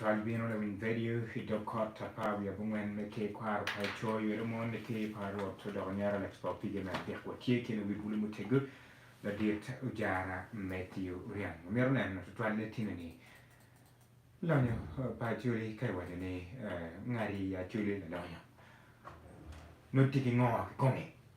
Tol bino lawiny vedio i dog kot apar wiye abongwen me Ker Kwaro pa Ecoo Ywelo Mon ni Ker pa Rwot odoko nyero Alex pa opige me adek watye ki luwi bulu mutego ladit Ojara Mathew Riang omito neno tutwal ne tini ni lonyo pa Acholi ka iwaco ni ngati Acholi lalonyo noti ki ngo kikome.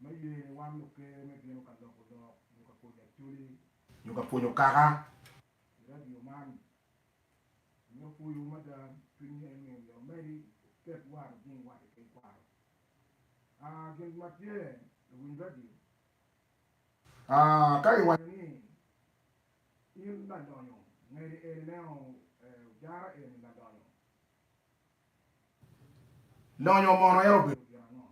me ye ni wan luker me bino ka loko lok nyo ka pwonyo acholi nyo ka pwonyo kaka i radio man myero puyu mada cwiny ni en myero omedi ket war ojing wat i kin kwaro aa gin ma tye luwiny radio aa ka i wanyo ni in lalonyo ngedi eni me o ojara eni lalonyo lonyo mono en obedo gin ango.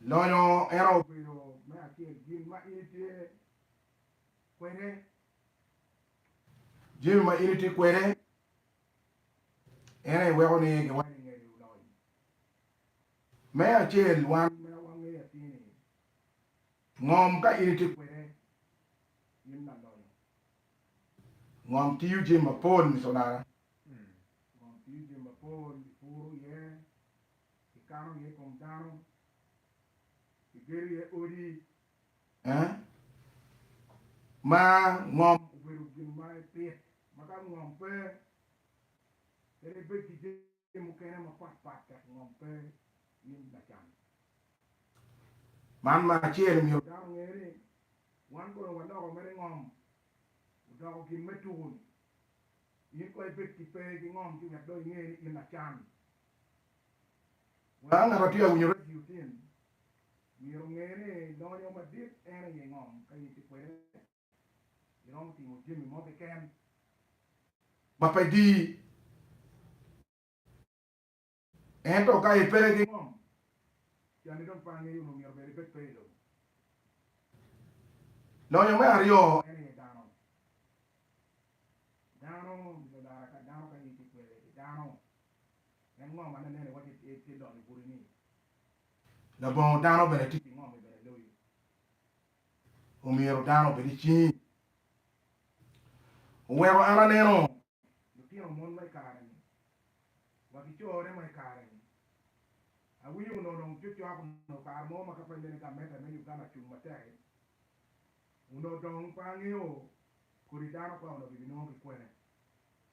Lonyo en obedo me acel gin ma in itye kwede. Jami ma in itye kwede en aye weko ni giwaco ni ngec olony. Me acel wan ma wangeyo atir ni ngom ka in itye kwede in lalonyo. Ngom tiyo jami mapol miculara, ngom tiyo jami mapol ipuro iye, Kikano iye kom dano, kigedo iye odi. Eh? Ma ngom obedo gin ma ipit, ma ka ngom pe, kadi ibed ki jami mukene mapat pat dok ngom pe, in lacan. Man me acel myero dano onge ni, wan kono waloko mere ngom odoko gin me tuku-ni. In kono ibed ki pe ki ngom ci wek dong inge ni in lacan. Wek angat ma tye ka winyo redio tin, myero onge ni lonyo madit en aye ngom. Ka in tye kwede, iromo timo jami mo keken ma pe dii. Ento ka i pe ki ngom, cani dong pe angeyo onongo myero bed ibed pe i lobo. Lonyo me aryo en aye dano. Dano, Biblia olaro dano ka in tye kwede, idano. En ngo ma nen iwaco itye itye donyo gudi ni labongo dano bene tye ki ngo mi bene loyi? Omyero dano obed icingi. Oweko an aneno lutino mon ma ikare ni wa ki corre ma ikare ni awinyo onongo dong cocok onongo kare mo ma ka pe mene gameta me Uganda cung matek i onongo dong pe angeyo kodi dano pa onongo kibi nongo ki kwene.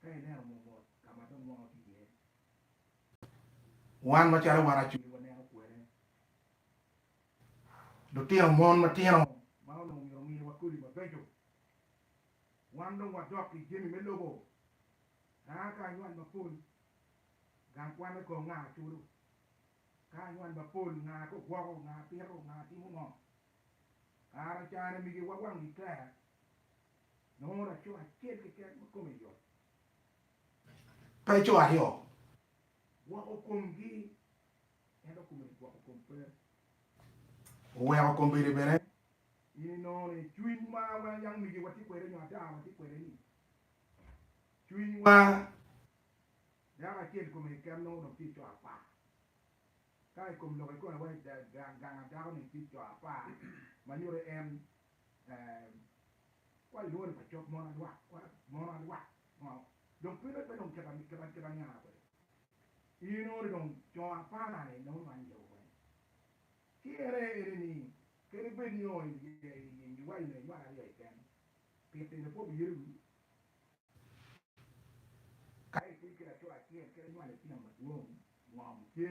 ka ineno mo mot ka ma dong mwaka otye iye. Wan macalo wan Acoli waneno kwene lutino mon matino ma onongo myero ominiwa kodi mabeco. Wan dong wadok ki jami me lobo ka a ka anywal mapol, gang kwan me kong nga culo? Ka anywal mapol, nga ka ogwoko, nga pito, nga timo ngo? Kara cani migiwa wang gikler Nongo laco acel keken ma kome yot pe co aryo gwoko komgi, ento kome gwoko kom pe oweko kom bene bene. In inongo ni cwinywa ma yam omege watye kwede nyo ada watye kwede-ni, cwinywa dako acel kome keken nongo dong tye co apar, ka i kom lok ikome wai gang adako-ni tye co apar ma nyuto en Wa i lworo pa cok mono adwak, kwara mono adwak ngo dong pe lwet pe dong kit ma niango kwede i nongo dong co apara ni nongo nwangi cebo kwede ci en aye ene ni kadi ni bed ni ongo i wa i nge nywalo aryo keken pi tino pwo biye ru ka itidi ki laco acel kadi nywalo itino madwong ngo muce.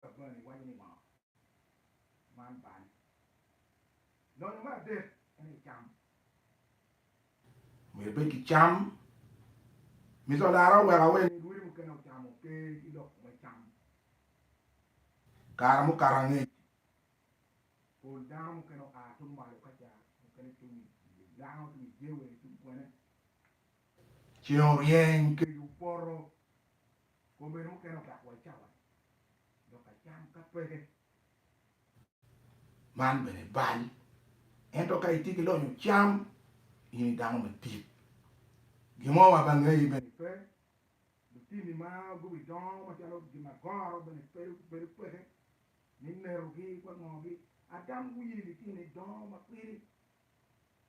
ka bwome iwaco ni ngo man bal. Lonyo me adek en aye cam. Myero ibed ki cam. Miconara oweko awe ni rwodi mukene ocamo pe ki lok me cam. Kare mukato angec pol dano mukene oa tung malo ka ca mukene cung i gang cung i jewe cung kwene. Ceng oryeny kec opoto. Kome mukene ogak wa cawa ni dok acam ka peke. Man bene bal. Ento ka itye ki lonyo cam, in i dano madit. Gin mo ma ba ngeyi bene pe. Lutini ma gubi dongo macalo gin ma goro bene bedo peke ni nerogi wa ngogi. Adam wiye litini dongo ma kwiri.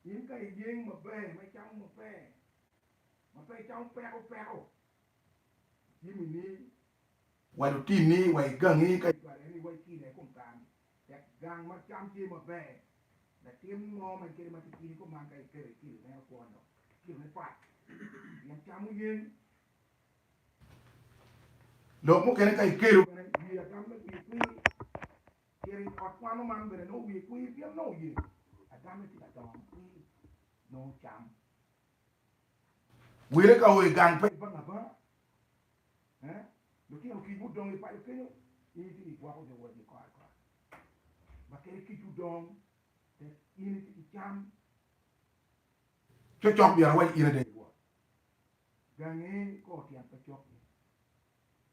In ka iyeng maber ma icamo maber, ma pe icamo peko peko, Jimmy ni, Wa lutim ni wa i gangi ka cwarre ni wa i kine i kom kare-ni, tek gang ma cam tye maber. Latin mo ma en kede matitini i kom man ka iketo i kilo meno kwon dok kilo ne pat pien cam oyen. Lok mukene ka ikelo bene wiye agam me wiye kwir. Cito i ot kwano man bene nongo wiye kwir pien nongo oye agam me tye ka dongo makwir nongo cam. Wele ka o i gang pa ibang abanga, lutino kic mudong i paco kenyo, in itye ka gwoko jo wodgi kor ki kor. Bakele kic odong tek, in itye ki cam. Cocok myero awac in ada, iwot gangi ikor tyen pa cokki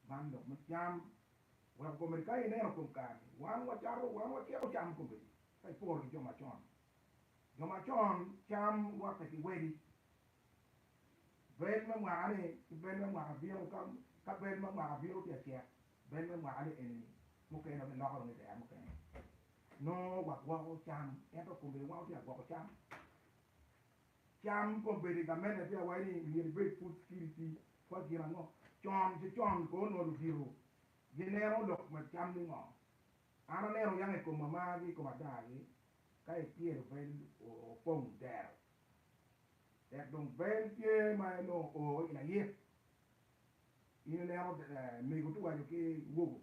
man lok me cam, weko komedi ka ineno kom kare-ni. Wan wacato, wan wacito cam komedi ka iporo ki jo macon-ni. Jo macon cam wate ki wedi, bel me mwaka-ni ki bel me mwaka bino, ka bel me mwaka bino tye ka cek, bel me mwaka-ni eni-ni, mukene dong giloko dong idero mukene. Nongo wagwoko cam, ento kombeddi wan wutye ka gwoko cam. Cam kombeddi gamente pe awaco ni myero ibed pud kit iti kwa gin ango. Con ki con kono onongo ludito gineno lok ma cam ni ngo. An aneno yako i koma margi i kom adagi, ka i pyero bel opong dero. Tek dong bel tye ma enongo o i layik. In ineno mego tuwaco ki wogo,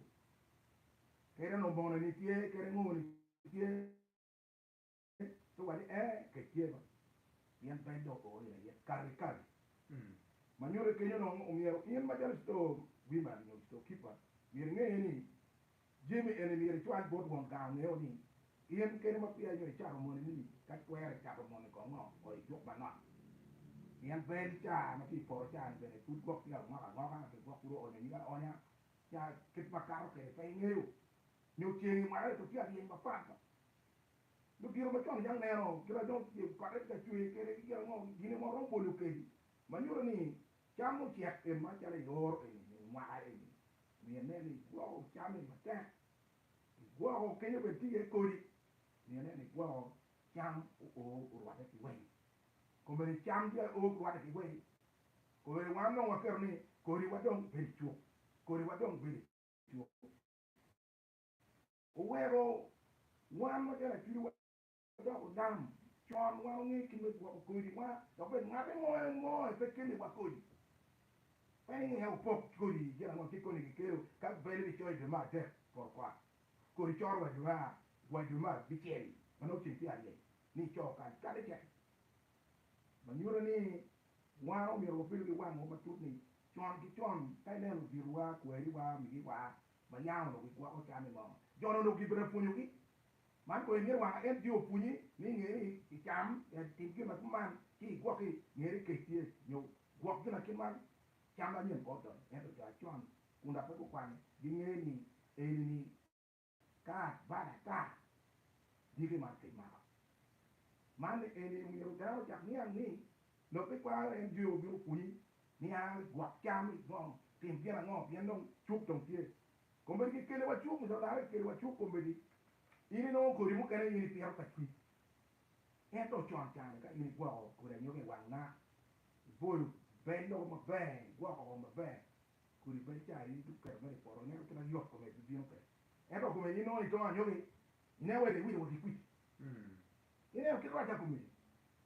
kede onongo moni tye, kede ngoni tye. Ci owacci ni, Ee, kec tye bene, pien peny dong oor ira iye kare kare. Ma nyutte kenyo dong, omyero in macalo citoo wiman nyo citoo kipa, myero inge ni jami eni myero icwal bot won gang ongeo ni in keni ma peya inyo icato moni ni ka twere icato moni kong ngo kong icuk manok. Pien bed caa ma tye i poto caa ni bene pud gwok tye ka ngok angoka ki gwok pud oonyo nyige aonya nya kit ma kato kwede pe ingeyo nyo ceng imaro ento tye aryeny mapat. Lutino macon yam neno kit ma dong pote tye ka cwer kwede ki kit ma gine mo romo bolo kadi ma nyuto ni cam ocek pi macalo i oro eni nyo i mwaka eni. Myero inen ni igwoko cam eni matek, igwoko kenyo bene tye iye kodi, myero inen ni igwoko cam oo orwatte ki wei. Kombeddi cam tye oo ki rwatte ki wei, kombeddi wan dong waketo ni kodiwa dong bedo icuk, kodiwa dong bedo icuk. Oweko wan ma garaculiwa dok onam con wa onge kit me gwoko kodi wa dok bed ngate mo ango aye pe keli wa kodi. Peny aye opok kodi gin ango ki koni ki kelo ka bele bi coyo jo me adek poto kwak. Kodi coro wa jo wa jo me abicel ma nongo ceng tye aye ni icoyo kany kadi kek ma nyuto ni wan omyero wabedo ki wang wa matut ni con ki con ka ineno odito wa kwari wa omigi wa ma nya onongo gigwoko cam i moo. Jo-ni onongo gibino pwonyogi. Man kono imyero wanga en bino pwonyi ni inge ni i cam, tim gin ma kuman, ci igwoki. Nge ni kec tye, nyo gwok gin ma kiman. Cam anyen pe odonyo, ento jo acon kun dok pe gukwano ginge ni eni-ni ka bal ata dyegi man kec mako. Man eni omyero dano ocak niang ni Lok me kwaro en Jehu bino pwonyi niang rik gwok cam, rik nongo tim gin ango pien dong cuk dong tye. Kombeddi kikeliwa cuk nyo dano kikeliwa cuk kombeddi in inongo kodi mukene in ipito ka cwiny ento con cani ka in igwoko kodi anyogi i wang naa iboyo bel loko maber igwoko woko maber kodi bel ca in idong iketo mere i poto ineno kit ma yot kome bibino kwede ento kome in nongo itongo anyogi ineno wai dong iwito wa ki kwici Ineno kit rwacca kome?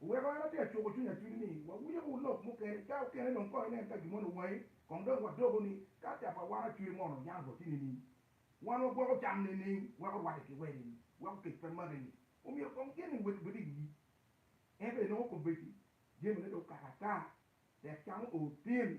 Oweko an atye ka cuko cwiny atudi ni wawinyo bur lok mukene. Ca okene dong kong inen ka gin moni owangi, kong dong wadoko ni, Ka ca pa wan acwir mono oyan boti nining? Wan wagwoko cam nining? Weko rwacca ki wede ni, Weko kec pe make ni, omyero kong gin ni wek obed i wi yik. Ento inongo kombeddi jamine dong okaka ata, tek cam oo tin,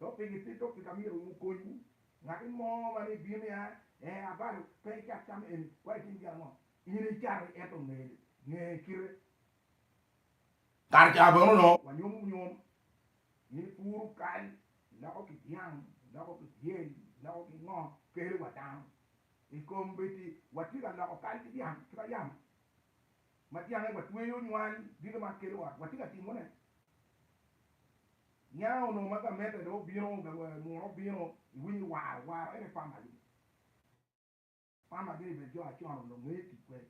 Dok pe gitito pi ka myero ongu konywu. Ngati mo ma ni bino ya, ee abalo, pe icak cam eni, wa itim gin ango? In icati, ento nge ni, nge kite. Kare ca bene onongo wanyomo bunyom, in puru kal, iloko ki dyang, iloko ki dyel, iloko ki ngo, kele wa dano. Ikombeddi, watye ka loko kal ki dyang, ki ba yamo. ma dyane watweyo nywal dito ma kelo wa, watye ka timone. Niang onongo ma gamette dong obino, munu obino, iwinyo waro, waro en aye famagi ni. Famagi ni bene jo acon onongo ngeyo tic kwede,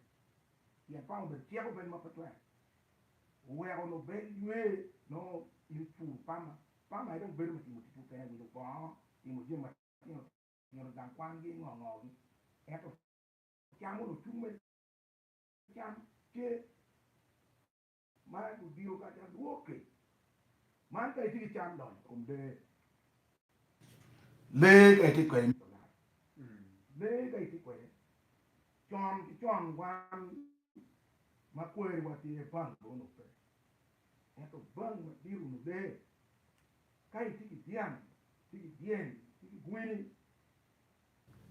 pien fama obedo cik obedo ma pe twero, oweko onongo bed lwe nongo in ipur fama, fama aye dong bedo me timo tic mukene, wilo bongo, timo jami matino tino, gang kwangi, ngo ngogi, ento cam onongo cung me. Can tye ma odiyo kadi adwoki. Man ka itye ki can donyo i kom lee. Lee ka itye kwede mito lal. Lee ka itye kwede. Con ki con wan ma kweriwa tye bang lobo-nu pe. Ento bang madito-nu lee. Ka itye ki dyang, itye ki dyeny, itye ki gwini.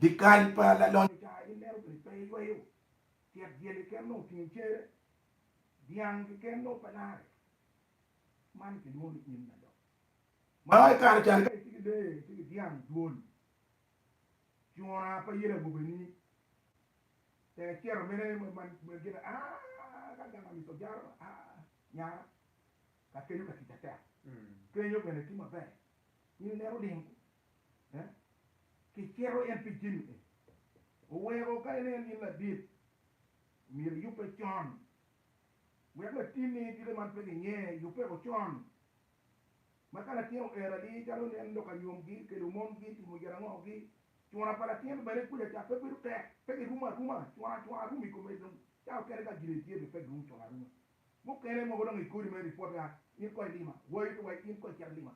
Dyekal pa lalonyo ca in lelo gini pe iyweyo. Tyet dyel keken nongo otingo cere, dyang keken nongo pe larre. Man kilwongo ni im nadok. Mano aye kare cani ka itye ki lee, itye ki dyang, dwol, cura pa yel agobeni, tek cito mene ma gin ni aah ka gang amica ojara ma aah nyara ka kenyo ka tica tek. Kenyo bene tye maber in ineno ling kicero en pi jami eni, oweko ka ineno ni in ladit myero iyubbe con wek latinni dito man pe ginge, yubbeko con ma ka latin oer adi calo nen lok anyomgi, kelo mongi, timo girangogi, cura pa latin bene kuca ca pe bedo tek, pe girumo aruma, cura cura rum i kome dong ca okene ka gire tye bene pe girum cura aruma, mukene mogo dong i kodi mere ripot ya in kong ilima, wayo to wa in kong icit ilima,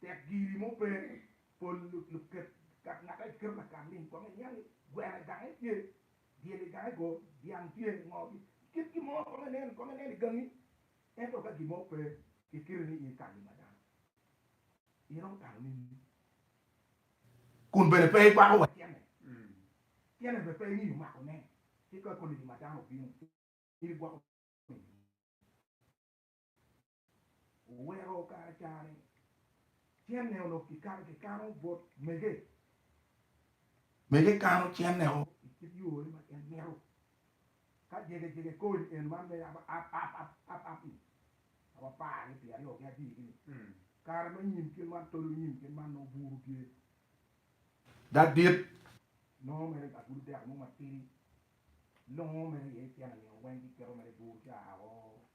Tek giri mo pe ni pol luket gat ngaka i kite lakal ling kong iniang ni gweno i gange tye, dyel i gange go, dyang tye i ngogi. Kit gin mo kong inen, kong inen i gangi, ento ka gin mo pe i kite ni in ikalo i ma dano, in romo tano nini? Kun bene pe ikwako wa tyene, tyene bene pe imiyo mako ne, ci ka koni ni ma dano obino, in igwoko nini? Oweko kare cani cenne onongo kikato ki kano bot mege. Mege kano cenne o i kit yo ne ma en mito. Ka jege jege kor i en man me yabo ap ap ap ap ap ni, ka wa par ni pi aryo gi abir gi ni, kare ma nyim kit man tolo nyim kit man nongo buru tye ga dit. Nongo mere ga gudo deko mo ma tidi, longo mere iye cene nio weng ki keto mere buru ca oo.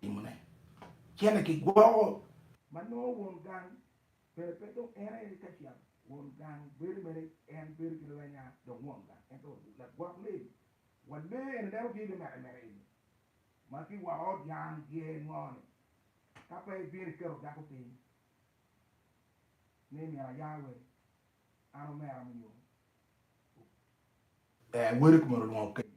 timone cene ki gwoko ma nongo won gang bene pe dong en aye ka cito won gang bedo mere en bedo ki lwenya dong won gang ento lagwok lee wa lee eni dano tye limete mete eni ma ki woko ot yang gye ngo ni ka pe ibino iketo dako piny ni myero aya wai an omera mi nyo ee wele kumeno olwongo kenyo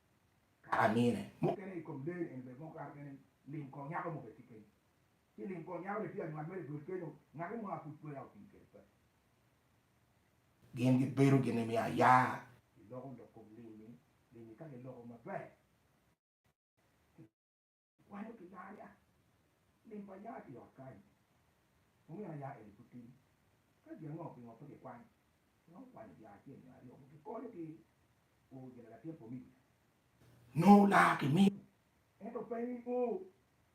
ka amine. Mukene i kom lee eni bene moko kato kene lim kor nyako mo bene tye kenyo. Ci lim kor nyako bene tye anywal mere dul kenyo, ngati mo a pud pe oya otim kede paco. Gin gibedo gin nimiyo aya. Giloko lok kom lim-mi, lim-mi ka giloko maber. Wanyo ki dano ya lim pa ya ki ot kany omino ya eni pud tin ka gin ango pingo pe ki kwany pingo kwanyo dya acel nyo aryo mogo ki konyo ki o gina latin pa omigo ya nyo laa ki miyo ento pe ni o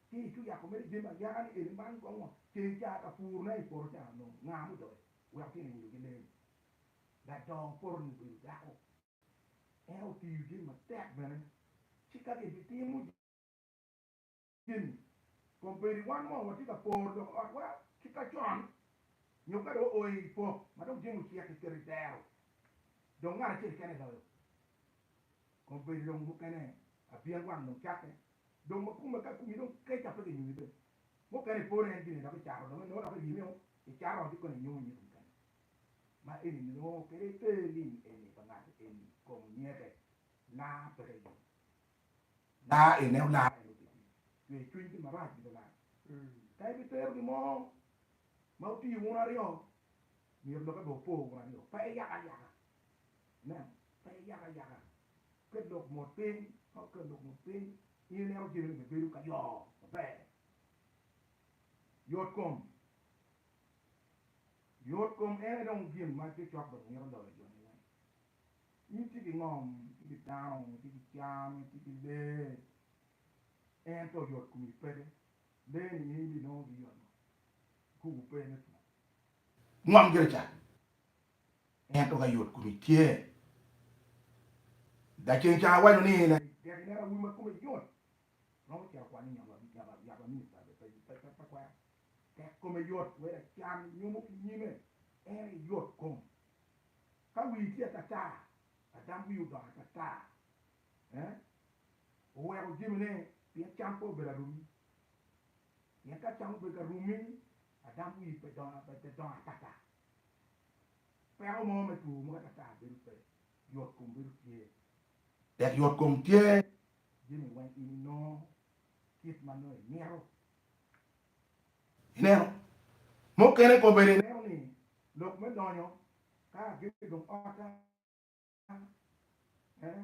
ki icu yako mere jami ayaka ni eni man gongo ceng caa ka pur ne ipoto caa nongo nga mudoyo weko tyen iwilo gi lee ni ladoyo poto ni obedo dako. En otiyo gin matek bene ci ka gibitimo jami kom bedi wan mo watye ka poro lok otwa ki ka con nyo ka dong oa i pok ma dong jami ocek kiketo i dero dong ngat acel kene loyo kom bedi dong mukene abyen wang dong cakke dong ma kome ka kumi dong kec ape kinyumi bene mukene iporo en gine dok icato dong inongo dok iryemeo icato ot ikone inyumo nyige mukene. ma eni nongo kwede te lim eni pa ngato eni kong nyete laa peke lim laa ene olar ene obedo lim cwer cwiny ki marac gin olar ka ibi tero gi mo ma otiyo wun aryo myero loke be opo wun aryo pe yaka ayaka ineno pe yaka ayaka ket lok mot piny ka oket lok mot piny in ineno jami ni be bedo ka yo maber yot kom Yotkom en aye dong gin ma cokcok dong mito dolo joni weng. In itye ki ngom, itye ki dano, itye ki cam, itye ki lee, ento yotkomi peke. Lee-ni in ibinongo ki yot ngo? Kuku pe me pur. Ngom gire ca, ento ka yotkomi tye. Lacen ca awaco ni, Tek ineno awobi ma kome yot, romo cito kwanyo yabo amini pa kwero. Tek kome yot wek acan nyomo ki nyime, en aye yot kom. Ka wii tye atataa, adam wii odoko atataa. Eeh, oweko jemine pi acan pe obedo arumi. Pien ka acan obedo ka rumi, adam wii pe dongo atata. Peko mo me two mogo atataa bedo pe, yot kom bedo tye. Tek yot kom tye, jemi weng in inongo kit ma nongo imito Ineno? Mukene kono bene ineno ni lok me donyo ka agege dong otta, ee,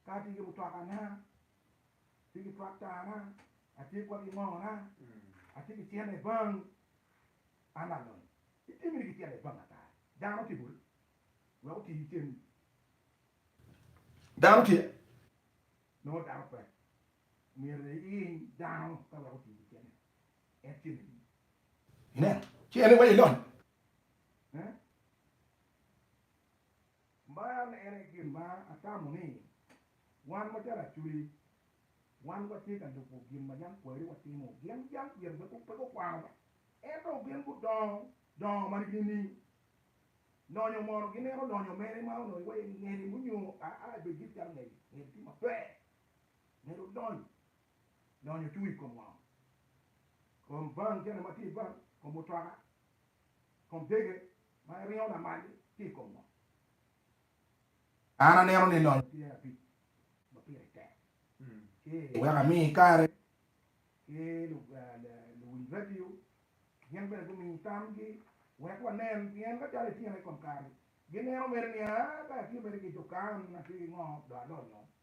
ka atye ki mutwakana, atye ki twaktana, atye kwede ki ngona, atye ki cente i bank, an alony. Itye miti ki cente i bank ata? Dano tye boti wek oti cen-ni? Dano tye? Nongo dano pe. Myero iyiny dano ka weko otiyo kicene. En tye me nino. Inen, ci en iwaco ilony. Nen, man en aye gin ma atamo ni wan macalo Acholi, wan watye ka lubo gin ma jang kwayine watimo. Gin jang kwiri pe pe gukwano be, ento gin gudongo dongo ma nining? Lonyo mono gineno lonyo mere ma onongo iwaco ni ngeni onyo aa bed giti calo ngeye, ngeye ti maber. Myero wudony, donyo tung i kom wang, kom van, jami ma tye i van, kom mutoka, kom dege ma iringo lamal-li tye i kom ngo? An aneno ni lonyo tye abic ma pire tek ci weko ami kare ki luwiny radio gin bene gumi tamgi wek wanen pien ka calo ityene i kom kare-ri gineno mere niya, Aa, ka atye mere ki dukan atye ki ngo dong alonyo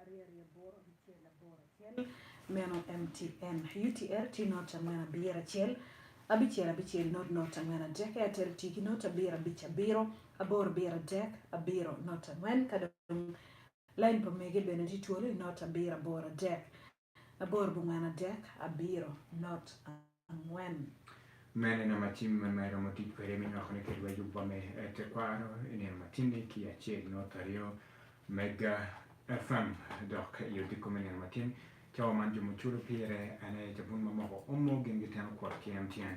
Aryerye boro bicel aboro acel meno mtn UTR tye not angwen abiro acel abicel abicel not not angwen adek Airtel tye ki not abiro abic abiro aboro biro adek abiro not angwen ka dong lain pa mege bene tye twolo i not abiro aboro adek Aboro bongwen adek abiro not angwen. Meno en ama tim ma iromo tic kwede me nywako ni kediwa yub wa me tekwaro i nino matinni ki acel not aryo Mega FM dok i odiko me nino matin cawa man jo muculo pire en aye cabun mamoko omo gin giteno kwot ki MTN.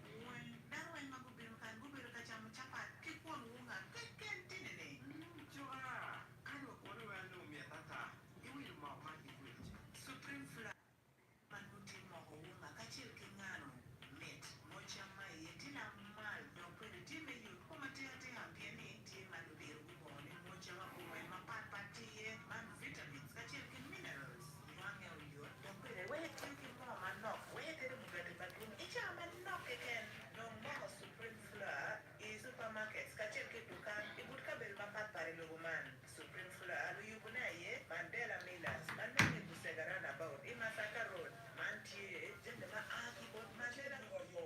Wun dano weng ma gubino kan gubedo ka camo capat ki kwon wunga keken tinini. Coka kadi wa kwone weng anongo myet ata. Iwilo moo man ki kwec. Supreme flour man nongo tye moko wunga kacel ki ngano. Mit. Moo cam ma iye tye lamal dok bene tye me yot kom atika tika pien ni tye ma ludiro gubongo ni moo cam abumoe mapat pat tye iye man vitamins kacel ki minerals. Wange oyot dok bene iweyo etiyo ki moo manok wek etedo mugati madwong i cawa manok keken. Nong moko Supreme Flour i supermarkets kacel ki i dukan i but kabedo mapat pat i lobo man. Supreme Flour luyubune aye Mandela Millers ma nonge i Busega Runabout i Masaka Road. Man tye jami ma a ki bot Mandela Ngoyo.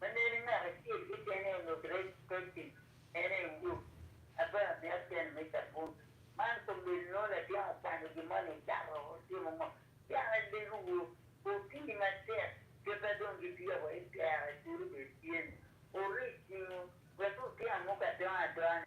Ma nene ngat acel kekene ongut rec pacim, en aye Wuruk, aba me acel me cabun. Man komel nongo latin okwano gin moni ocato otimo ngo? Pian alego wu, wupii matek keta dong gipiyo wa i kera culu bene tye ni, wuri cingu wek wutyen muka adongo adongo ni.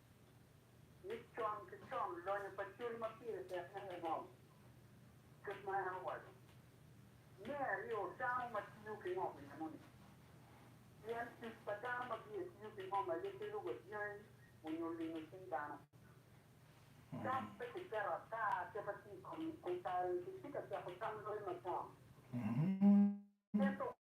ni con ki con lonyo pa cal ma pire tek en aye ngom. Kit ma en owaco, Me aryo, dano ma tiyo ki ngom i enoni. Pien tic pa dano ma biye tiyo ki ngom aye kelo wa dyangi onyo lingo cing dano. Dok pe kiketo ata kema tye i kom kare-ni kicika cako tam loyo macon. Ento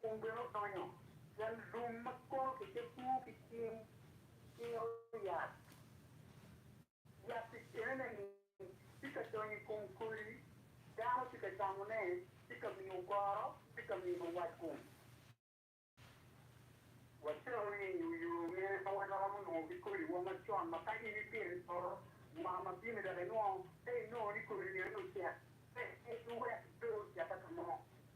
Kun bene odonyo, pien lum ma kono kicekwu ki cing ciro yat, yat i kinene-ni tye ka donyo i kom kodi, dano tye ka camone, tye ka miyo goro, tye ka miyo watgum. Wacito nining i yo mene ma waromo nongo ki kodiwa macon ma ka in ipito i poto mwaka ma bino-ni dok inongo ka inongo ni kodi-ni aye ocek, pe iwek pe ocek ata mo?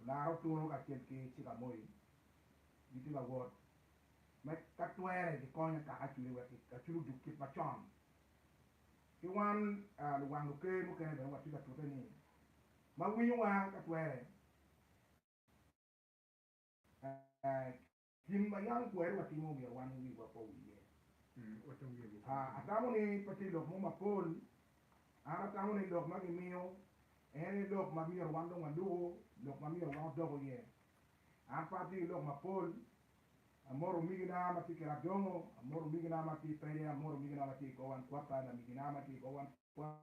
Olaro tunu kacel ki Cik Amoyi gitye ka wot me ka twere gikony akaka acwiny wek acwiny odug kit macon. Ki wan luwang luker mukene bene watye ka tute ni ma winyowa ka twere Gin ma yam kweri watimo omyero wan wiwa pe owiye. Atamo ni pe tye lok mo mapol. An atamo ni lok ma gimiyo en aye lok ma myero wan dong waluku, lok ma myero wan odok iye. An pe atye ki lok mapol. Amoto omigina ma tye i Kiradongo, amoto omigina ma tye i Pede, amoto omigina ma tye i Gowan Kwata, lamigina ma tye i Gowan Kwata.